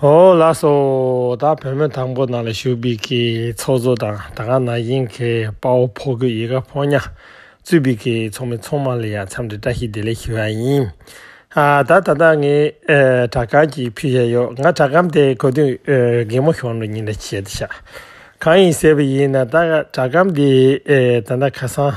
ཧོ། ལ་སོ། ད་བོད་མི་དང་པོ་ནང་ལ་ཞུགས་པའི་གི་ཚོགས་གཙོ་དང་ད་སྔ་ན་གཞིན་གི་དཔའ་བོ་ཕོ་གི་ཡི་ག་ཕོ་ཉག་གཙོས་པའི་གི་ཚོགས་མི་ཚོགས་མང་ལ་ཡང་འཚམས་འདྲི་བཀྲ་ཤིས་བདེ་ལེགས་ཞུ་བ་ཡིན། ཨ་ད་ད་ད་ངས་དྲ་སྐམ་གྱི་ཕུད་བཞག་ཡོད་ང་དྲ་སྐམ་དེ་གོ་དུས་རྒན་མོ་ཞོགས་འགྲོ་ཉིན་རེ་བྱས་ཏེ་བཞག་གང་ཡིན་ཟེར་བ་ཡིན་ན་ད་དྲ་སྐམ་དེ་ད་ད་ཁ་སང་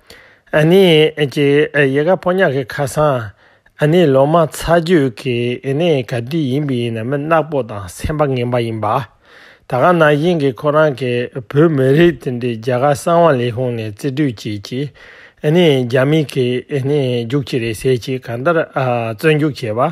ཨ་ནེ། ཀྱི་ཡལ་ག་ཕོ་ཉག་གི་ཁ་སང་ཨ་ནེའི་ལོ་མ་ཚ་རྒྱུད་ཀྱི་ཨེ་ནེ་ག་དུས་ཡིན་པའི་ཡིན་ན་མི་ནག་པོ་དང་སེམས་པ་ངན་པ་ཡིན་པ། ད་ག་ན་གཞིན་གྱི་ཁོ་རང་གི་བོད་མི་རིགས་དེ་འདྲའི་རྒྱ་གར་གསང་བ་ལས་ཤོང་ནས་བརྩི་སྤྲོད་བྱེད་ཀྱི་ཨེ་ནེ་རྒྱ་མི་གི་ཨེ་ནེ་རྒྱུག་ཁྱི་རེད་ཟེར་གྱི་གང་ལྟར་བརྩོན་རྒྱུག་བྱེད་པ།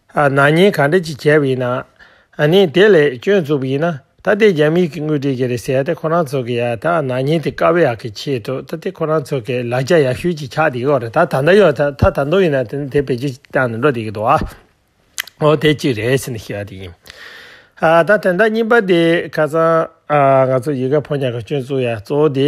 ནག་ཉེས་ག་འདྲ་ཅིག་བྱས་པ་ཡིན་ནམ། ནི་དེ་ལས་སྐྱོན་བཙུགས་པ་ཡིན་ན་ད་དེ་རྒྱ་མིས་ཀྱིས་དངུལ་སྤྲད་ཀྱི་རེད་ཟེར་ཏེ་ཁོ་རང་ཚོ་གི་ཡ་ད་ནག་ཉེས་དེ་དཀའ་བའི་ཡག་གི་ཆེད་དུ་ད་དེ་ཁོ་རང་ཚོ་གི་ལ་རྒྱ་ཡག་ཤོས་ཅིག་ཆགས་བསྡད་ཀྱི་རེད་ད་ད་ལྟ་ཡོད་ད་ད་དུང་ཡིན་ན་དེ་ནི་དེ་བེད་སྤྱོད་ཅིག་བཏང་ནས་འགྲོ་བསྡད་ཀྱི་འདུག་ཨོ་དེ་གཅིག་རེད་ཟེར་ནས་ཤི་བ་དེ་ཡིན། ད་དོན་དག་གཉིས་པ་དེ་ཁ་སང་ང་ཚོ་ཡི་ག་ཕོ་ཉར་གྱི་སྐྱོན་བཙུགས་ཡ་གཙོ་བོ་དེ་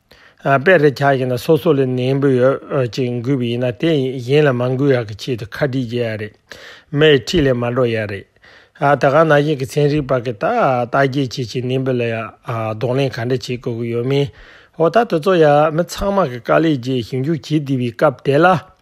དཔེ་རེ་ཆགས་ཡིན་ན་སོ་སོ་ལས་ནན་པོ་ཡོད་ཅིག་འགུལ་བ་ཡིན་ན་དེ་གཞན་ལ་མ་འགུལ་ཡག་གི་ཆེད་དུ་ཁ་བྲིས་བརྒྱད་ཡག་རེད་མེད་ཁྲིད་ལས་མ་འགྲོ་ཡག་རེད་ད་གང་ན་གཞན་གི་ཚན་རིག་པ་གི་ད་ལྟ་རྒྱས་བྱེད་ཀྱི་ནན་པོ་ལ་གདོང་ལེན་ག་འདྲ་བྱེད་དགོས་ཀྱི་ཡོད་མིན་འོ་ད་དེ་ཚོ་ཡག་མི་ཚང་མ་གི་དཀའ་ལས་རྗེས་ཞིབ་འཇུག་བྱེད་བསྡད་པའི་སྐབས་དེ་ལ།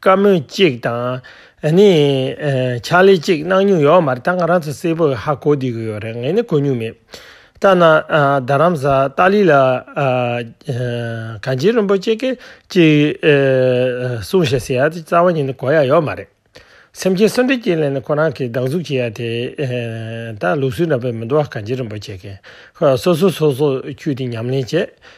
བཀའ་མོལ་གཅིག་དང། ནི། ཕྱག་ལས་གཅིག་གནང་མྱོང་ཡོད་མ་རེད་ད་ང་རང་ཚོ་སེར་པོས་ཧ་གོ་བསྡད་ཀྱི་ཡོད་རེད་ངས་ནི་གོ་མྱོང་མེད། ལྟ་ན། རྡ་རམ་ས་ཏཱ་ལི་ལ། གངས་ཅན་རིན་པོ་ཆེ་གིས་གཅིག། གསུངས་ཞེས་ཟེར་ཡ་དེ་རྩ་བ་ཉིད་ནས་གོ་ཡ་ཡོད་མ་རེད། སེམས་ཅན་གསོན་འདྲེ་ཅན་ལ་ནི་ཁོ་རང་གིས་སྡང་ཟུག་བྱེད་ཡ་དེ། ད་ལུགས་སྲོལ་འདྲ་པོས་མི་འདུག་ཨ་གངས་ཅན་རིན་པོ་ཆེ་གིས། སོ་སོས་སོ་སོ་འཁྱུད་དེ་ཉམས་ལེན་བྱེད།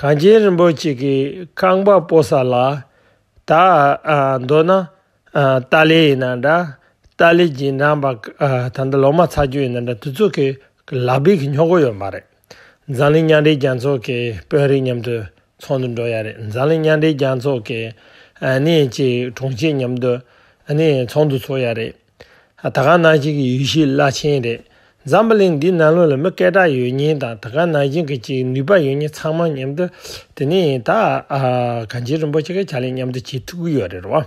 གངས་ཅན་རིན་པོ་ཆེ་གི་རྐང་པ་སྤོ་ས་ལ་ད་འདོད་ན་ཏཱ་ལའི་ཡིན་ན་འདྲ་ཏཱ་ལའི་རྗེས་འབྲང་པ་ད་ལྟ་ལོ་མ་ཚར་རྒྱུ་ཡིན་ན་འདྲ་དུས་ཚོད་ཀྱི་ལག་འབིག་གི་སྨྱོ་གོ་ཡོད་མ་རེད་འཛམ་གླིང་མཉམ་འབྲེལ་རྒྱལ་ཚོགས་ཀྱི་དཔོན་རིགས་མཉམ་དུ་ཚོགས་འདུ་འགྲོ་ཡ་རེད་འཛམ་གླིང་མཉམ་འབྲེལ་རྒྱལ་ཚོགས་ཀྱི་ནི་ཅིག་དྲུང་ཆེ་མཉམ་དུ་ནི་ཚོགས་འདུ་ཚོགས་ཡ་རེད། ད་ག་ནང་བཞིན་གྱི་ཡུལ་ཤུལ་བླ་ཆེན་རེད། འཛམ་བུ་གླིང་འདིའི་ནང་ལོགས་ལ་མི་སྐད་གྲགས་ཡོད་ཉེན་དང་ད་ག་ནང་བཞིན་གྱི་ཅིག་ནུས་པ་ཡོད་ཉེན་ཚང་མ་མཉམ་དུ་དེ་ནས་ཡིན་ད་ག་འཇིགས་རིན་པོ་ཆེ་གི་ཕྱག་ལས་མཉམ་དུ་བྱེད་ཐུག་གི་ཡོད་རེད་བ།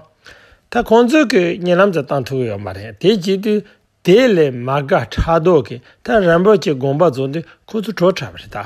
ད་ཁོང་ཚོས་གི་ཉེ་ལམ་དུ་བཏང་ཐུག་གི་ཡོད་མ་རེད་དེ་བྱེད་དུས་དེ་ལས་མ་དགའ་ཕྲག་དོག་གི་ད་རིན་པོ་ཆེ་དགོངས་པ་རྫོགས་དུས་ཁོ་ཚོ་བྲོ་ཁྲ་བ་རེད་ད།